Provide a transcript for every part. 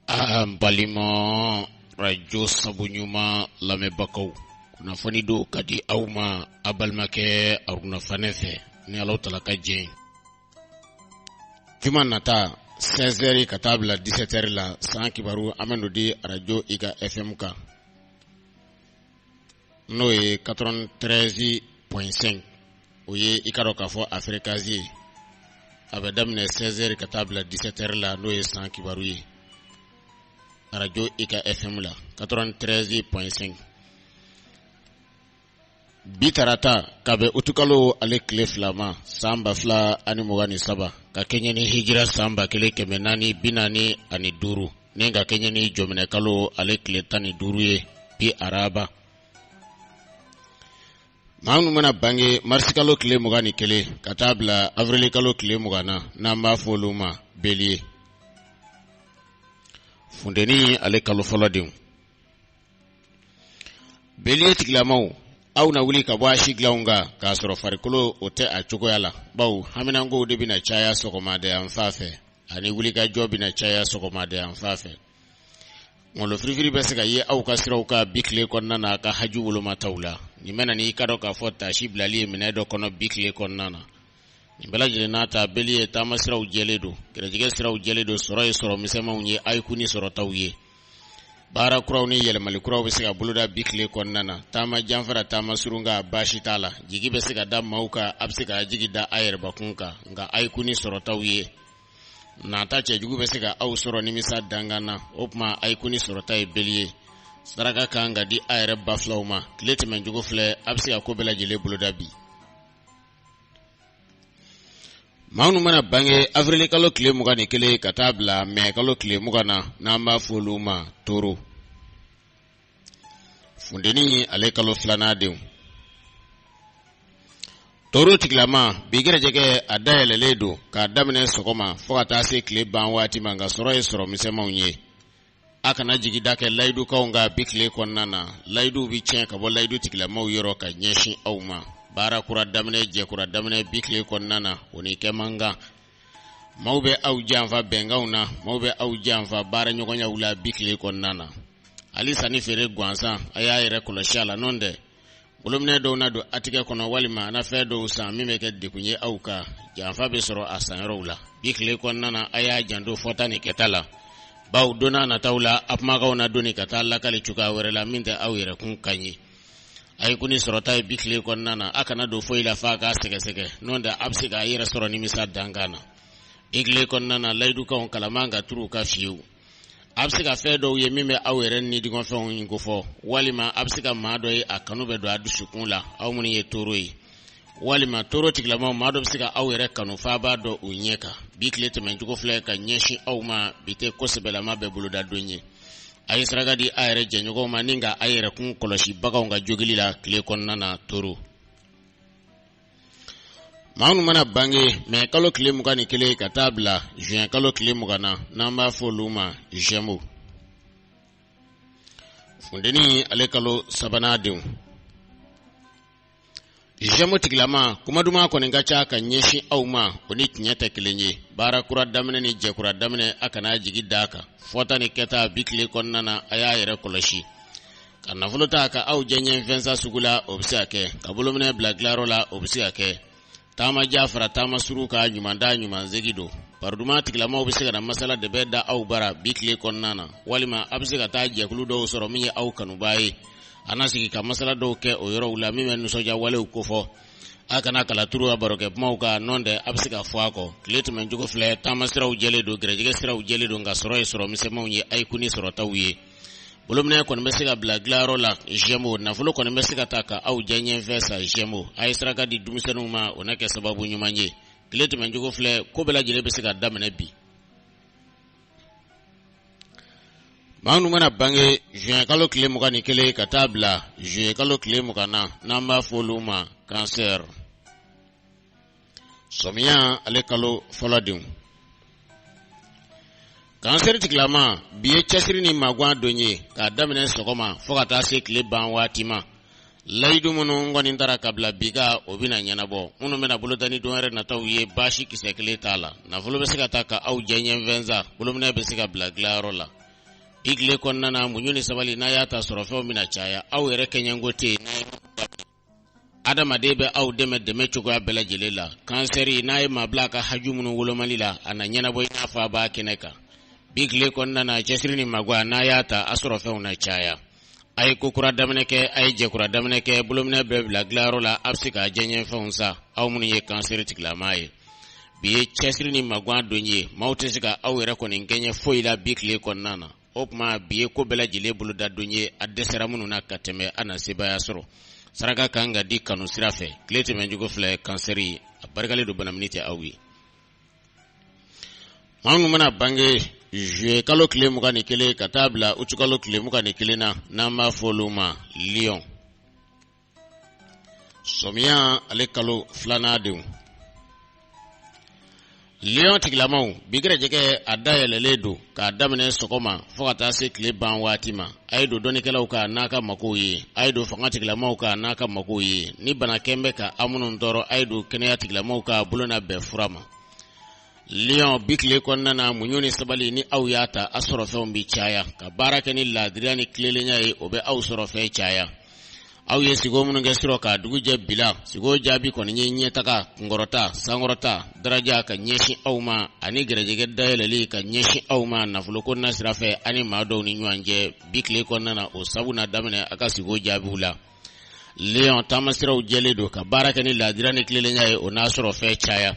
An balima arajo sabu ɲuman lamɛnbagaw kunnafoni don ka di aw ma a balimakɛ aruna fane fɛ ni ala taala ka jɛn juma nata sɛzɛri ka taa bila disɛtɛri la san kibaru a bɛn'o di arajo ika efɛnmu kan n'o ye katɔrɔvɛn tɛrɛzi pɔn sɛnki o ye i k'a dɔn k'a fɔ a firekansi ye a bɛ daminɛ sɛzɛri ka taa bila disɛtɛri la n'o ye san kibaru ye arajo ika fm la katɔrɔvɛn tɛrɛzi pɔn sɛnki bi tarata ka bɛn utikalo ale tile fila ma san ba fila ani mugan ni saba ka kɛɲɛ ni hijira san ba kelen kɛmɛ naani bi naani ani duuru nin ka kɛɲɛ ni jɔminɛ kalo ale tile tan ni duuru ye bi araba maa minnu mana bange marisikalo tile mugan ni kelen ka taa bila avrilikalo tile mugan na n'an b'a fɔ olu ma beliye funteni ale kalo fɔlɔ denw Beliye tigilamaw aw na wuli ka bɔ a si dilanw kan k'a sɔrɔ farikolo o tɛ a cogoya la bawo haminankow de bɛna caya sɔgɔmada yan fan fɛ ani wulikajɔ bɛna caya sɔgɔmada yan fan fɛ ngolofirifiri bɛ se ka ye aw ka siraw kan bi tile kɔnɔna na ka haju woloma taw la nin bɛna n'i k'a dɔn k'a fɔ taasi bilali ye minɛ dɔ kɔnɔ bi tile kɔnɔna na nin bɛɛ lajɛlen n'a ta beliye taama siraw jɛlen don gɛrɛjɛgɛ siraw jɛlen don sɔrɔ ye sɔrɔ misɛnmanw ye a y'i kun ni sɔrɔtaw ye baara kuraw ni yɛlɛmali kuraw bɛ se ka boloda bi tile kɔnɔna na taama jan fara taama surun kan baasi t'a la jigi bɛ se ka da maaw kan a bɛ se ka jigi da a yɛrɛbakun kan nka a y'i kun ni sɔrɔtaw ye nata cɛjugu bɛ se ka aw sɔrɔ nimisa dankan na o tuma a y'i kun ni sɔrɔta ye beliye saraka kan ka di a yɛrɛ ba filaw ma tile tɛmɛncogo filɛ a bɛ se ka ko bɛɛ lajɛlen boloda bi maa minnu mana bange avrili kalo tile mugan ni kelen ka taa bila mɛ kalo tile mugan na n'an b'a fɔ olu ma toro funteni ale kalo filanan denw toro tigilama bi gɛrɛjɛgɛ a dayɛlɛlen don k'a daminɛ sɔgɔma fɔɔ ka taa se tile ban waati ma nka sɔrɔ ye sɔrɔ misɛnmanw ye a kana jigida kɛ layidukanw kan bi tile kɔnɔna na layiduw bɛ tiɲɛ ka bɔ layidu tigilamaw yɔrɔ ka ɲɛsin aw ma baara kura daminɛ jɛkura daminɛ bi tile kɔnɔna na o ni kɛ man kan maaw bɛ aw janfa bɛnkanw na maaw bɛ aw janfa baara ɲɔgɔnyaw la bi tile kɔnɔna na hali sanni feere gansan a y'a yɛrɛ kɔlɔsi a la n'o tɛ bolominɛ dɔw na don a tigɛ kɔnɔ walima a na fɛn dɔw san min bɛ kɛ degun ye aw kan janfa bɛ sɔrɔ a sanyɔrɔw la bi tile kɔnɔna na a y'a janto fɔta ni kɛta la bawo don nataw la a kumakanw na doni ka taa lakali cogoya wɛrɛ la min tɛ aw yɛrɛ kunkan ye a ye kun ni sɔrɔta ye bi tile kɔnɔna na a kana don foyi la f'a k'a sɛgɛsɛgɛ n'o tɛ a bɛ se k'a yɛrɛ sɔrɔ nimisa dankan na bi tile kɔnɔna na layidukanw kala man ka turu a kan fiyewu a bɛ se ka fɛn dɔw ye min bɛ aw yɛrɛ ni dungɔfɛnw in kofɔ walima a bɛ se ka maa dɔ ye a kanu bɛ don a dusukun la aw minnu ye toro ye walima toro tigilamaw maa dɔ bɛ se ka aw yɛrɛ kanu f'a b'a dɔn u ɲɛ kan bi tile tɛmɛncogo filɛ ka ɲɛsin aw ma bi tɛ ko sɛbɛlama bɛɛ boloda don ye a ye saraka di a yɛrɛ jɛɲɔgɔnw ma ni ka a yɛrɛ kun kɔlɔsi baganw ka jogili la tile kɔnɔna na toro maa minnu mana bange mɛ kalo tile mugan ni kelen ka taa bila juin kalo tile mugan na n'an b'a fɔ olu ma jɛmo funteni ale kalo sabanan denw jɛmo tigilama kuma duman kɔni ka ca ka ɲɛsin aw ma o ni tiɲɛ tɛ kelen ye baara kura daminɛ ni jɛkura daminɛ a kana jigi da a kan fɔta ni kɛta bi tile kɔnɔna na a y'a yɛrɛ kɔlɔsi ka nafolo ta ka aw jɛɲɛfɛn san sugu la o bɛ se ka kɛ ka bolominɛ bila dilanyɔrɔ la o bɛ se ka kɛ taama jan fara taama surun kan ɲuman taa ɲuman segin don baroduman tigilamaw bɛ se ka na masala dɛbɛn da aw bara bi tile kɔnɔna na walima a bɛ se ka taa jɛkulu dɔw sɔrɔ min ye aw kanubaa ye a na sigi ka masala dɔw kɛ o yɔrɔw la min bɛ nisɔndiya walew kofɔ a kana kala turu a barokɛ kumaw kan nɔntɛ a bɛ se ka fɔ a kɔ tile tɛmɛncogo filɛ taama siraw jɛlen don gɛrɛjɛgɛ siraw jɛlen don nka sɔrɔ ye sɔrɔ misɛnmanw ye a ye kun ni sɔrɔtaw ye bolominɛ kɔni bɛ se ka bila dilanyɔrɔ la jɛmo nafolo kɔni bɛ se ka ta ka aw jɛɲɛfɛn san jɛmo a ye saraka di denmisɛnninw ma o na kɛ sababu ɲuman ye tile tɛmɛncogo filɛ ko bɛɛ lajɛlen bɛ se ka daminɛ bi maa minnu mana bange juin kalo tile mugan ni kelen ka taa bila juillet kalo tile mugan na n'an b'a fɔ olu ma kansɛri sɔmiya ale kalo fɔlɔ denw kansɛri tigilama bi ye cɛsiri ni magan don ye k'a daminɛ sɔgɔma fɔɔ ka taa se tile ban waati ma layidu minnu kɔni tara ka bila bi kan o bɛna ɲɛnabɔ minnu bɛna boloda ni don wɛrɛ nataw ye baasi kisɛ kelen t'a la nafolo bɛ se ka ta ka aw jɛɲɛfɛn san bolominɛ bɛ se ka bila dilanyɔrɔ la bi tile kɔnɔna na muɲu ni sabali n'a y'a ta sɔrɔfɛnw bɛna caya aw yɛrɛ kɛɲɛko tɛ yen adamaden bɛ aw dɛmɛ dɛmɛ cogoya bɛɛ lajɛlen la kansɛri n'a ye maa bila a ka haju minnu wolomali la a na ɲɛnabɔ i n'a fɔ a b'a kɛnɛ kan bi tile kɔnɔna na cɛsiri ni magan n'a y'a ta a sɔrɔfɛnw na caya a ye ko kura daminɛ kɛ a ye jɛkura daminɛ kɛ bolominɛ bɛɛ bila dilanyɔrɔ la a bɛ se k'a jɛɲɛfɛnw san aw minnu ye kansɛri tigilama ye bi ye cɛsiri ni magan don ye maaw tɛ se ka aw yɛrɛ kɔni kɛɲɛ foyi la bi tile kɔnɔna na o tuma bi ye ko bɛɛ lajɛlen bolodadon ye a dɛsɛra minnu na ka tɛmɛ a na sebaaya sɔrɔ saraka kan ka di kanu sira fɛ tile tɛmɛncogo filɛ kansɛri ye a barikalen don banamini tɛ aw ye maa minnu mana bange juye kalo tile mugan ni kelen ka taa bila utukalo tile mugan ni kelen na n'an b'a fɔ olu ma liyɔn sɔmiya ale kalo filanan denw liyɔn tigilamaw bi gɛrɛjɛgɛ a dayɛlɛlen don k'a daminɛ sɔgɔma fo ka taa se tile ban waati ma a ye don dɔnnikɛlaw kan n'a ka makow ye a ye don fanga tigilamaw kan n'a ka makow ye ni bana kɛn bɛ ka a minnu tɔɔrɔ a ye don kɛnɛya tigilamaw kan bolo na bɛn fura ma Lyon bi tile kɔnɔna na muɲun ni sabali ni aw y'a ta a sɔrɔ fɛnw bɛ caya ka baara kɛ ni laadiriya ni tilelenya ye o bɛ aw sɔrɔ fɛn caya aw ye sigo minnu kɛ sirɔ ka dugu jɛ bi la sigo jaabi kɔni ye ɲɛtaga kunkɔrɔta sankɔrɔta daraja ka ɲɛsin aw ma ani gɛrɛjɛgɛ dayɛlɛli ka ɲɛsin aw ma nafoloko nasira fɛ ani maa dɔw ni ɲɔgɔn cɛ bi tile kɔnɔna na o sabu na daminɛ a ka sigo jaabiw la lion taamasiraw jɛlen don ka baara kɛ ni laadiriya ni tilelenya ye o n'a sɔrɔ fɛn caya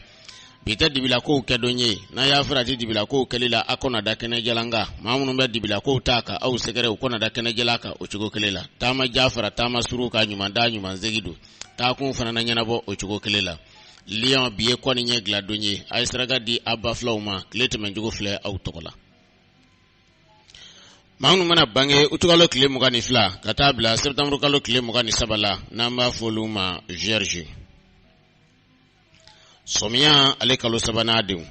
bi tɛ dibilakow kɛ don ye n'a y'a farati dibilakow kɛli la a ko na da kɛnɛ jalan kan maa minnu bɛ dibilakow ta ka aw sɛgɛrɛ u ko na da kɛnɛ jalan kan o cogo kelen la taama jan fara taama surun kan ɲuman taa ɲuman segin don taakun fana na ɲɛnabɔ o cogo kelen la lion bi ye kɔ ni ɲɛ diladon ye a ye saraka di a ba filaw ma tile tɛmɛncogo filɛ aw tɔgɔ la maa minnu mana bange utukalo tile mugan ni fila ka taa bila sɛtanburukalo tile mugan ni saba la n'an b'a fɔ olu ma vierge sɔmiya ale kalo sabanan denw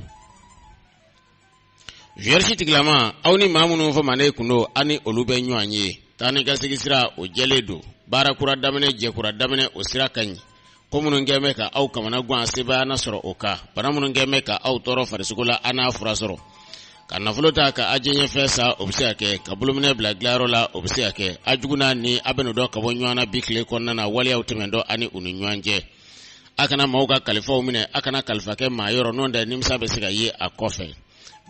vierge tigilama aw ni maa minnu fɔmanen kun don aw ni olu bɛ ɲɔgɔn ye taa ni ka segin sira o jɛlen don baara kura daminɛ jɛ kura daminɛ o sira ka ɲi ko minnu kɛn bɛ ka aw kamana gan sebaaya na sɔrɔ o kan bana minnu kɛn bɛ ka aw tɔɔrɔ farisogo la a n'a fura sɔrɔ ka nafolo ta ka aw jɛɲɛfɛn san o bɛ se ka kɛ ka bolominɛ bila dilanyɔrɔ la o bɛ se ka kɛ a jugu n'a ɲin a bɛn'u dɔn ka bɔ ɲɔgɔn na bi tile kɔnɔna na waleyaw tɛmɛntɔ a ni u ni ɲɔgɔn cɛ a kana maaw ka kalifaw minɛ a kana kalifa kɛ maa yɔrɔ n'o tɛ nimisa bɛ se ka ye a kɔfɛ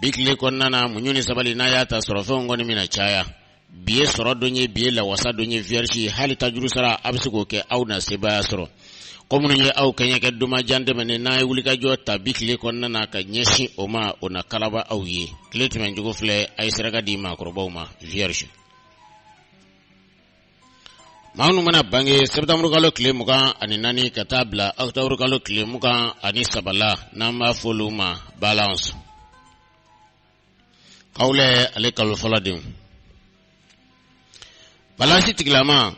bi tile kɔnɔna na muɲu ni sabali n'a y'a ta sɔrɔfɛnw kɔni mina caya bi ye sɔrɔ don ye bi ye lawasa don ye vierge hali tajurusara a bɛ se k'o kɛ aw na sebaaya sɔrɔ ko minnu ye aw kɛɲɛ kɛ tuma jan tɛmɛnen n'a ye wulikajɔ ta bi tile kɔnɔna na ka ɲɛsin o ma o na kalaba aw ye tile tɛmɛncogo filɛ a ye saraka di maakɔrɔbaw ma vierge maa minnu mana bange sɛtanburukalo tile mugan ani naani ka taa bila ɔkutɔburukalo tile mugan ani saba la n'an b'a fɔ olu ma balance kawulɛ ale kalo fɔlɔ denw balansi tigilama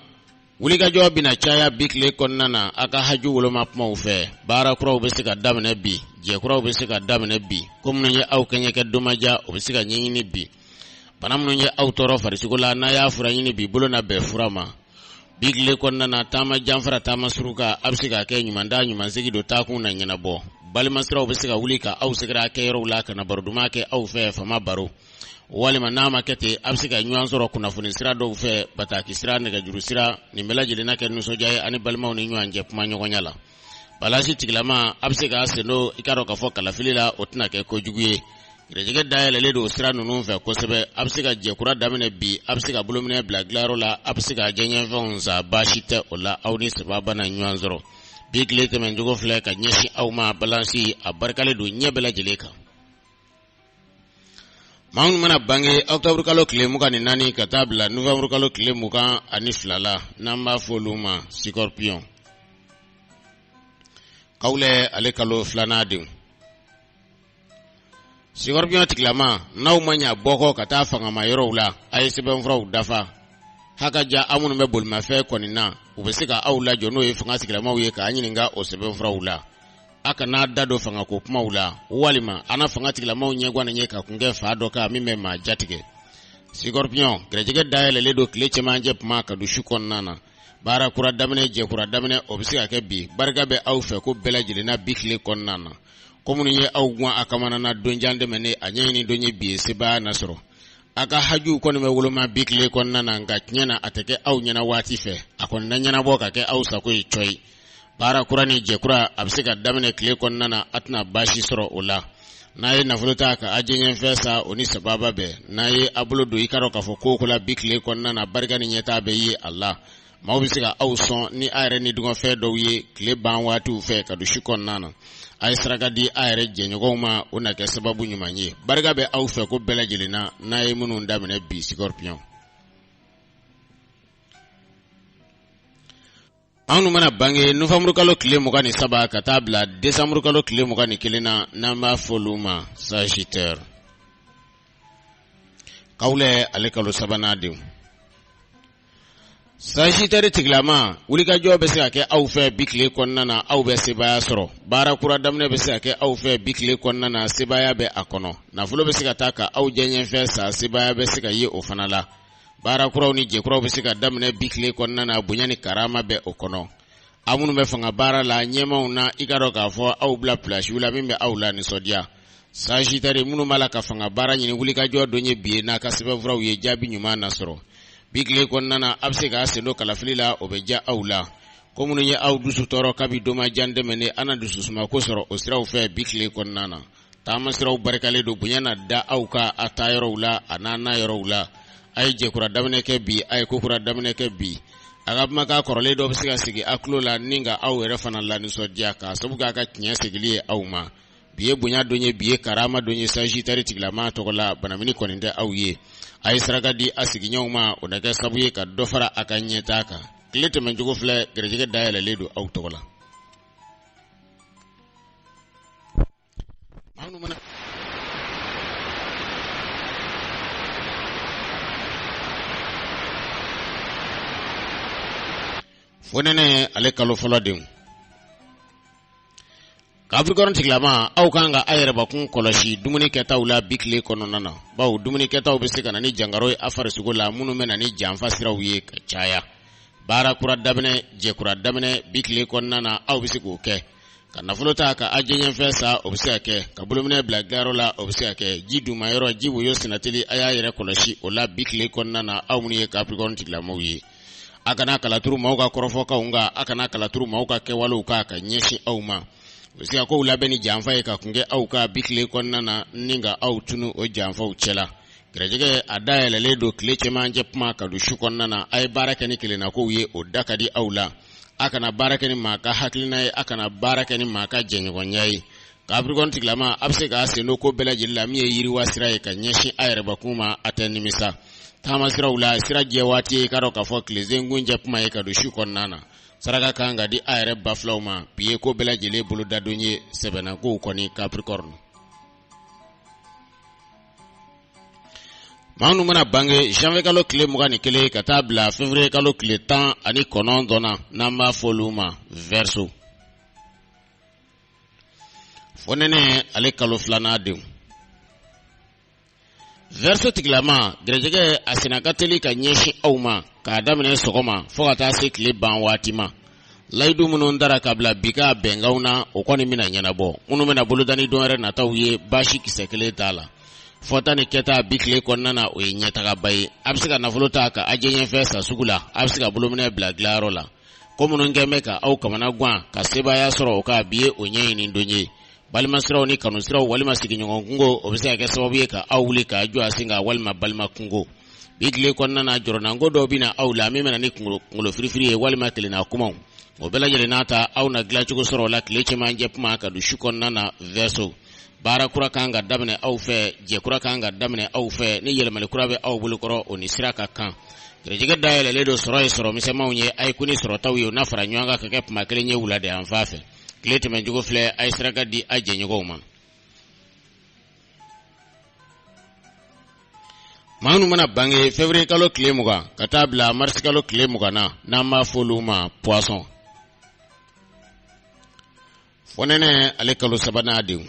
wulikajɔ bɛna caya bi tile kɔnɔna na a ka haju woloma kumaw fɛ baara kuraw bɛ se ka daminɛ bi jɛkuraw bɛ se ka daminɛ bi ko minnu ye aw kɛɲɛ kɛ tuma jan o bɛ se ka ɲɛɲini bi bana minnu ye aw tɔɔrɔ farisogo la n'a y'a fura ɲini bi bolo na bɛn fura ma bi tile kɔnɔna na taama jan fara taama surun kan a bɛ se ka kɛ ɲuman taa ɲuman segin don taakun na ɲɛnabɔ balimasiraw bɛ se ka wuli ka aw sɛgɛrɛ a kɛ yɔrɔw la ka na baro duman kɛ aw fɛ fama baro walima n'a ma kɛ ten a bɛ se ka ɲɔgɔn sɔrɔ kunnafoni sira dɔw fɛ bataki sira nɛgɛjuru sira nin bɛɛ lajɛlen na kɛ nisɔndiya ye ani balimaw ni ɲɔgɔn cɛ kuma ɲɔgɔnya la balansi tigilama a bɛ se k'a sen don i k'a dɔn k'a fɔ kalafili la o tɛna kɛ kojugu ye gɛrɛjɛgɛ dayɛlɛlen don sira ninnu fɛ kosɛbɛ a bɛ se ka jɛkura daminɛ bi a bɛ se ka bolominɛn bila dilanyɔrɔ la a bɛ se ka jɛɲɛfɛnw san baasi tɛ o la aw ni sababa na ɲɔgɔn sɔrɔ bi tile tɛmɛncogo filɛ ka ɲɛsin aw ma balansi a barikalen don ɲɛ bɛɛ lajɛlen kan maa minnu mana bange octobre kalo tile mugan ni naani ka taa bila novembre kalo tile mugan ani fila la n'an b'a fɔ olu ma sikorpiyon kawulɛ ale kalo filanan denw sikorpiyon tigilama n'aw ma ɲa bɔ kɔ ka taa fangama yɔrɔw la a ye sɛbɛnfuraw dafa hakaja aw minnu bɛ bolimafɛn kɔni na u bɛ se ka aw lajɔ n'o ye fanga tigilamaw ye k'a ɲininka o sɛbɛnfuraw la a kana a da don fanga ko kumaw la walima a na fanga tigilamaw ɲɛgwan ye ka kungɛ fa dɔ kan min bɛ maa jatigɛ sikɔrpiyɔn gɛrɛjɛgɛ dayɛlɛlen don tile cɛmancɛ kuma ka don su kɔnɔna na baara kura daminɛ jɛkura daminɛ o bɛ se ka kɛ bi barika bɛ aw fɛ ko bɛɛ lajɛlen na bi tile kɔnɔna na ko minnu ye aw gwan a kamana na don jan tɛmɛnen a ɲɛɲini don ye bi ye sebaaya na sɔrɔ a ka hajuw kɔni bɛ woloma bi tile kɔnɔna na nka tiɲɛ na a tɛ kɛ aw ɲɛna waati fɛ a kɔni na ɲɛnabɔ ka kɛ aw sago ye cɔyi baara kura ni jɛkura a bɛ se ka daminɛ tile kɔnɔna na a tɛna baasi sɔrɔ o la n'a ye nafolo ta ka a jɛɲɛfɛn san o ni sababa bɛɛ n'a ye a bolo don i k'a dɔn k'a fɔ ko o ko la bi tile kɔnɔna na barika ni ɲɛtaa bɛ ye a la maaw bɛ se ka aw sɔn ni a yɛrɛ nidungɔfɛn dɔw ye tile ban waatiw fɛ ka don su kɔnɔna na a ye saraka di a yɛrɛ jɛɲɔgɔnw ma o na kɛ sababu ɲuman ye barika bɛ aw fɛ ko bɛɛ lajɛlen na n'a ye minnu daminɛ bi sikɔripiyɔn maa minnu mana bange nowanburukalo tile mugan ni saba ka taa bila desanburukalo tile mugan ni kelen na n'an b'a fɔ olu ma sajitɛr kawulɛ ale kalo sabanan denw sajitɛri tigilama wulikajɔ bɛ se ka kɛ aw fɛ bi tile kɔnɔna na aw bɛ sebaaya sɔrɔ baara kura daminɛ bɛ se ka kɛ aw fɛ bi tile kɔnɔna na sebaaya bɛ a kɔnɔ nafolo bɛ se ka ta ka aw jɛɲɛfɛn san sebaaya bɛ se ka ye o fana la baara kuraw ni jɛkuraw bɛ se ka daminɛ bi tile kɔnɔna na bonya ni karama bɛ o kɔnɔ aw minnu bɛ fanga baara la ɲɛmaw na i k'a dɔn k'a fɔ aw bila pilasiw la min bɛ aw lanisɔndiya Sagittaire minnu b'a la ka fanga baara ɲini wulikajɔ don ye bi ye n'a ka sɛbɛnfuraw ye jaabi ɲuman na sɔrɔ bi tile kɔnɔna na aw bɛ se k'a sen don kalafili la o bɛ diya aw la ko minnu ye aw dusu tɔɔrɔ kabi tuma jan tɛmɛnen a na dususumako sɔrɔ o siraw fɛ bi tile kɔnɔna na taamasiraw barikalen don bonya na da aw kan a taa yɔrɔw la a n'a na yɔrɔw la a ye jɛkura daminɛ kɛ bi a ye kokura daminɛ kɛ bi a ka kumakan kɔrɔlen dɔ bɛ se ka sigi a tulo la ni ka aw yɛrɛ fana lanisɔndiya k'a sabu kɛ a ka tiɲɛ segili ye aw ma bi ye bonya don ye bi ye karama don ye Sagittaire tigilama tɔgɔ la banamini kɔni tɛ aw ye a ye saraka di a sigiɲɔgɔnw ma o na kɛ sabu ye ka dɔ fara a ka ɲɛtaa kan tile tɛmɛncogo filɛ garijɛgɛ dayɛlɛlen don aw tɔgɔ la fonɛnɛ ale kalo fɔlɔ denw Capricorne tigilama aw kan ka a yɛrɛbakun kɔlɔsi dumuni kɛtaw la bi tile kɔnɔna na bawo dumuni kɛtaw bɛ se ka na ni jankaro ye a farisogo la minnu bɛ na ni janfa siraw ye ka caya baara kura daminɛ jɛkura daminɛ bi tile kɔnɔna na aw bɛ se k'o kɛ ka nafolo ta ka a diyanyefɛn san o bɛ se ka kɛ ka bolominɛ bila dilayɔrɔ la o bɛ se ka kɛ ji duma yɔrɔ ji woyo senna teli a y'a yɛrɛ kɔlɔsi o la bi tile kɔnɔna na aw minnu ye Capricorne tigilamaw ye a kana kalaturu maaw ka kɔrɔfɔkanw kan a kana kalaturu maaw ka kɛwalew kan ka ɲɛsin aw ma o bɛ se ka kow labɛn ni janfa ye ka kun kɛ aw kan bi tile kɔnɔna na ni ka aw tunun o janfaw cɛ la Garijɛgɛ a dayɛlɛlen don tile cɛmancɛ kuma ka don su kɔnɔna na a ye baara kɛ ni kelennakow ye o da ka di aw la a kana baara kɛ ni maa ka hakilina ye a kana baara kɛ ni maa ka jɛɲɔgɔnya ye Capricorne tigilama a bɛ se k'a sen don ko bɛɛ lajɛlen la min ye yiriwa sira ye ka ɲɛsin a yɛrɛbakun ma a tɛ nimisa taama siraw la sira jɛ waati ye i k'a dɔn k'a fɔ tilesenkuncɛ kuma ye ka don su kɔnɔna na saraka kan ka di a yɛrɛ ba filaw ma bi ye ko bɛɛ lajɛlen bolodadon ye sɛbɛnnakow kɔni Capricorne maa minnu mana bange janvier kalo tile mugan ni kelen ka taa bila février kalo tile tan ani kɔnɔntɔn na n'an b'a fɔ olu ma Verseau fonɛnɛ ale kalo filanan denw Verseau tigilama garijɛgɛ a senna ka teli ka ɲɛsin aw ma k'a daminɛ sɔgɔma fo ka taa se tile ban waati ma layidu minnu tara ka bila bi ka bɛnkanw na o kɔni bɛna ɲɛnabɔ minnu bɛna boloda ni don wɛrɛ nataw ye baasi kisɛ kelen t'a la fɔta ni kɛta bi tile kɔnɔna na o ye ɲɛtagaba ye a bɛ se ka nafolo ta ka a diyanyefɛn san sugu la a bɛ se ka bolominɛ bila dilayɔrɔ la ko minnu tun bɛ ka aw kamanagan ka sebaaya sɔrɔ o kan bi ye o ɲɛɲini don ye balimasiraw ni kanusiraw walima sigiɲɔgɔn kungo o bɛ se ka kɛ sababu ye ka aw wuli ka jɔ a sen kan walima balima kungo bi tile kɔnɔna na jɔrɔnanko dɔw bɛ na aw la min bɛna ni kungolo firifiri ye walima kelenna kumaw o bɛɛ lajɛlen n'a ta aw na dilancogo sɔrɔ o la tile cɛmancɛ kuma ka don su kɔnɔna na verseau baara kura kan ka daminɛ aw fɛ jɛ kura kan ka daminɛ aw fɛ ni yɛlɛmali kura bɛ aw bolo kɔrɔ o ni sira ka kan garijɛgɛ dayɛlɛlen don sɔrɔ ye sɔrɔ misɛnmanw ye a ye kɔni sɔrɔtaw ye o na fara ɲɔgɔn kan ka kɛ kuma kelen ye wulada yan fan fɛ tile tɛmɛncogo filɛ a ye saraka di a jɛɲɔgɔnw ma maa minnu mana bange février kalo tile mugan ka taa bila marisi kalo tile mugan na n'an b'a fɔ olu ma poisson fonɛnɛ ale kalo sabanan denw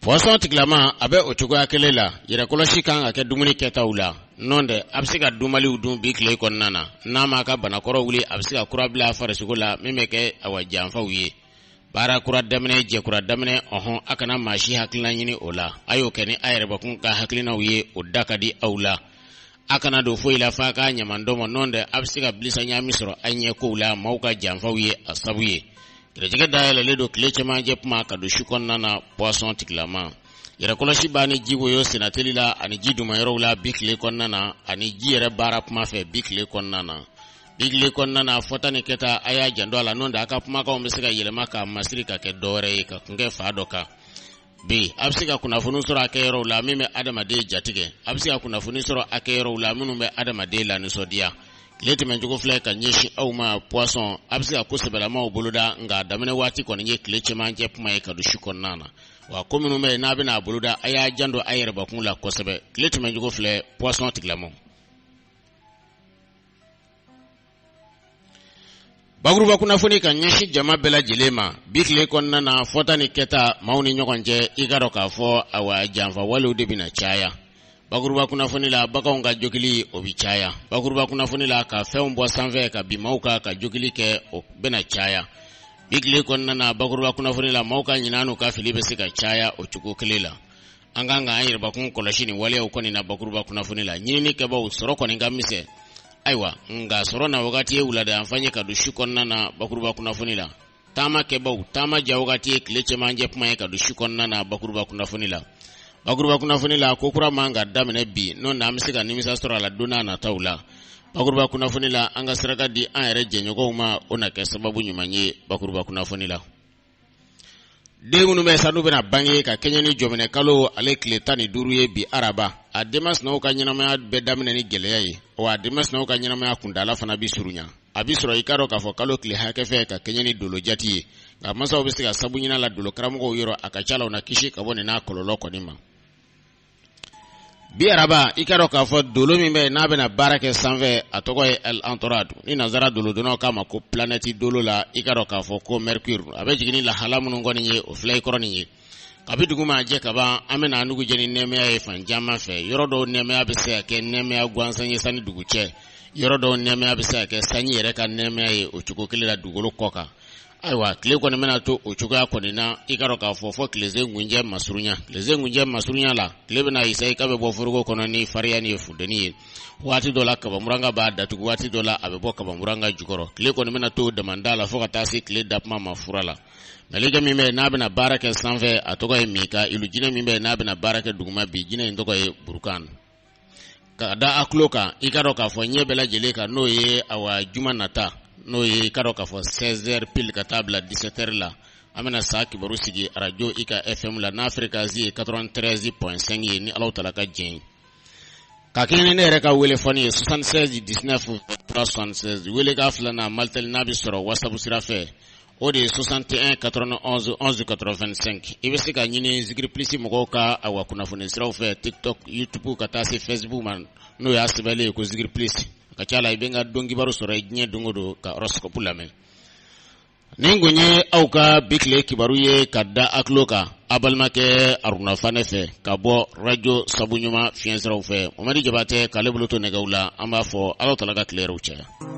poisson tigilama a bɛ o cogoya kelen la yɛrɛkɔlɔsi kan ka kɛ dumuni kɛtaw la n'o tɛ a bɛ se ka dunbaliw dun bi tile kɔnɔna na n'a m'a ka banakɔrɔ wuli a bɛ se ka kura bila farisogo la min bɛ kɛ awa janfaw ye baara kura daminɛ jɛkura daminɛ ɔɔn a kana maa si hakilina ɲini o la a y'o kɛ ni a yɛrɛbakun ka hakilinaw ye o da ka di aw la a kana don foyi la f'a k'a ɲaman dɔ ma n'o tɛ a bɛ se ka bilisa ɲaami sɔrɔ a ɲɛ kow la maaw ka janfaw ye a sabu ye gɛrɛjɛgɛ dayɛlɛlen don tile cɛmancɛ kuma ka don su kɔnɔna na poisson tigilama yɛrɛkɔlɔsi ba ni ji woyo sennateli la ani ji dumayɔrɔw la bi tile kɔnɔna na ani ji yɛrɛ baara kuma fɛ bi tile kɔnɔna na bi tile kɔnɔna na fɔta ni kɛta a y'a janto a la n'o tɛ a ka kumakanw bɛ se ka yɛlɛma k'a masiri ka kɛ dɔwɛrɛ ye ka kun kɛ fan dɔ kan bi a bɛ se ka kunnafoni sɔrɔ a kɛ yɔrɔw la min bɛ adamaden jatigɛ a bɛ se ka kunnafoni sɔrɔ a kɛ yɔrɔw la minnu bɛ adamaden lanisɔndiya tile tɛmɛncogo filɛ ka ɲɛsin aw ma poisson a bɛ se ka ko sɛbɛlamaw boloda nka a daminɛ waati kɔni ye tile cɛmancɛ kuma ye ka don su kɔnɔna na wa ko minnu bɛ yen n'a bɛna a boloda a y'a janto a yɛrɛbakun la kosɛbɛ tile tɛmɛncogo filɛ poisson tigilamaw bakuruba kunnafoni ka ɲɛsin jama bɛɛ lajɛlen ma bi tile kɔnɔna na fɔta ni kɛta maaw ni ɲɔgɔn cɛ i k'a dɔn k'a fɔ awa janfawalew de bɛna caya bakuruba kunnafoni la baganw ka jogili o bɛ caya bakuruba kunnafoni la ka fɛnw bɔ sanfɛ ka bin maaw kan ka jogili kɛ o bɛna caya bi tile kɔnɔna na bakuruba kunnafoni la maaw ka ɲinan n'u ka fili bɛ se ka caya o cogo kelen la an kan ka an yɛrɛbakun kɔlɔsi nin waleyaw kɔni na bakuruba kunnafoni la ɲinini kɛbaw sɔrɔ kɔni ka misɛn ayiwa nka sɔrɔ na wagati ye wulada yan fan ye ka don su kɔnɔna na bakuruba kunnafoni la taama kɛbaw taama ja wagati ye tile cɛmancɛ kuma ye ka don su kɔnɔna na bakuruba kunnafoni la bakuruba kunnafoni la ko kura man ka daminɛ bi n'o na an bɛ se ka nimisa sɔrɔ a la don n'a nataw la bakuruba kunnafoni la an ka saraka di an yɛrɛ jɛɲɔgɔnw ma o na kɛ sababu ɲuman ye bakuruba kunnafoni la den minnu bɛ sa n'u bɛna bange ka kɛɲɛ ni jɔminɛ kalo ale tile tan ni duuru ye bi araba a den masinaw ka ɲɛnamaya bɛ daminɛ ni gɛlɛya ye wa a den masinaw ka ɲɛnamaya kuntaala fana bi surunya a bi sɔrɔ i k'a dɔn k'a fɔ kalo tile hakɛ fɛ ka kɛɲɛ ni dolo jati ye nka masaw bɛ se ka sabu ɲini a la dolo karamɔgɔw yɔrɔ a ka ca la u na kisi ka bɔ nin n'a kɔlɔlɔ kɔni ma bi araba i k'a dɔn k'a fɔ dolo min bɛ n'a bɛna baara kɛ sanfɛ a tɔgɔ ye el antorad ni nanzara dolodɔnnaw k'a ma ko planɛti dolo la i k'a dɔn k'a fɔ ko mercure a bɛ jigin ni lahala minnu kɔni ye o filɛ i kɔrɔ nin ye kabi dugu ma jɛ ka ban an bɛna an dugu jɛ ni nɛɛmaya ye fan caman fɛ yɔrɔ dɔw nɛɛmaya bɛ se ka kɛ nɛɛmaya gansan ye san ni dugu cɛ yɔrɔ dɔw nɛɛmaya bɛ se ka kɛ sanji yɛrɛ ka nɛɛmaya ye o cogo kelen la dugukolo kɔ kan ayiwa tile kɔni bɛna to o cogoya kɔni na i ka dɔn k'a fɔ fo tilesekuncɛ masurunya tilesekuncɛ masurunya la tile bɛna i sayi ka bɛ bɔ foroko kɔnɔ ni fariya ni ye funteni ye waati dɔ la kabamuranka b'a datugu waati dɔ la a bɛ bɔ kabamuranka jukɔrɔ tile kɔni bɛna to damanda la fo ka taa se tile dakuma ma fura la mɛlɛkɛ min bɛ n'a bɛna baara kɛ sanfɛ a tɔgɔ ye mikayilu jinɛ min bɛ n'a bɛna baara kɛ duguma bi jinɛ in tɔgɔ ye burukan Ka da a tulo kan i ka dɔn k'a fɔ ɲɛ bɛɛ lajɛlen kan n'o ye awa juma nata n'o ye i ka dɔn k'a fɔ seize heures pile ka taa bila dix-sept heures la an bɛna sa kibaru sigi arajo ika fm la n'a ferekansi ye quatre-vingt-treize point cinq ye ni ala taala ka diɲɛ ye ka kɛɲɛ ni ne yɛrɛ ka wele fɔni ye soixante-seize dix-neuf soixante-seize wele k'a filanan malitel n'a bɛ sɔrɔ whatsapp sira fɛ o de ye soixante et un quatre-vingt-onze onze quatre-vingt-cinq i bɛ se ka n ɲini zikiri plus mɔgɔw ka awa kunnafoni siraw fɛ tiktok youtube ka taa se facebook ma n'o y'a sɛbɛnnen ye ko zikiri plus a ka ca la i bɛ n ka don kibaru sɔrɔ i diɲɛ don o don ka horoscope lamɛn nin kun ye aw ka bi tile kibaru ye ka da a tulo kan a balimakɛ aruna fane fɛ ka bɔ arajo sabu ɲuman fiɲɛsiraw fɛ mamadi jabatɛ k'ale bolo to nɛgɛ la an b'a fɔ ala taala ka tile hɛrɛ caya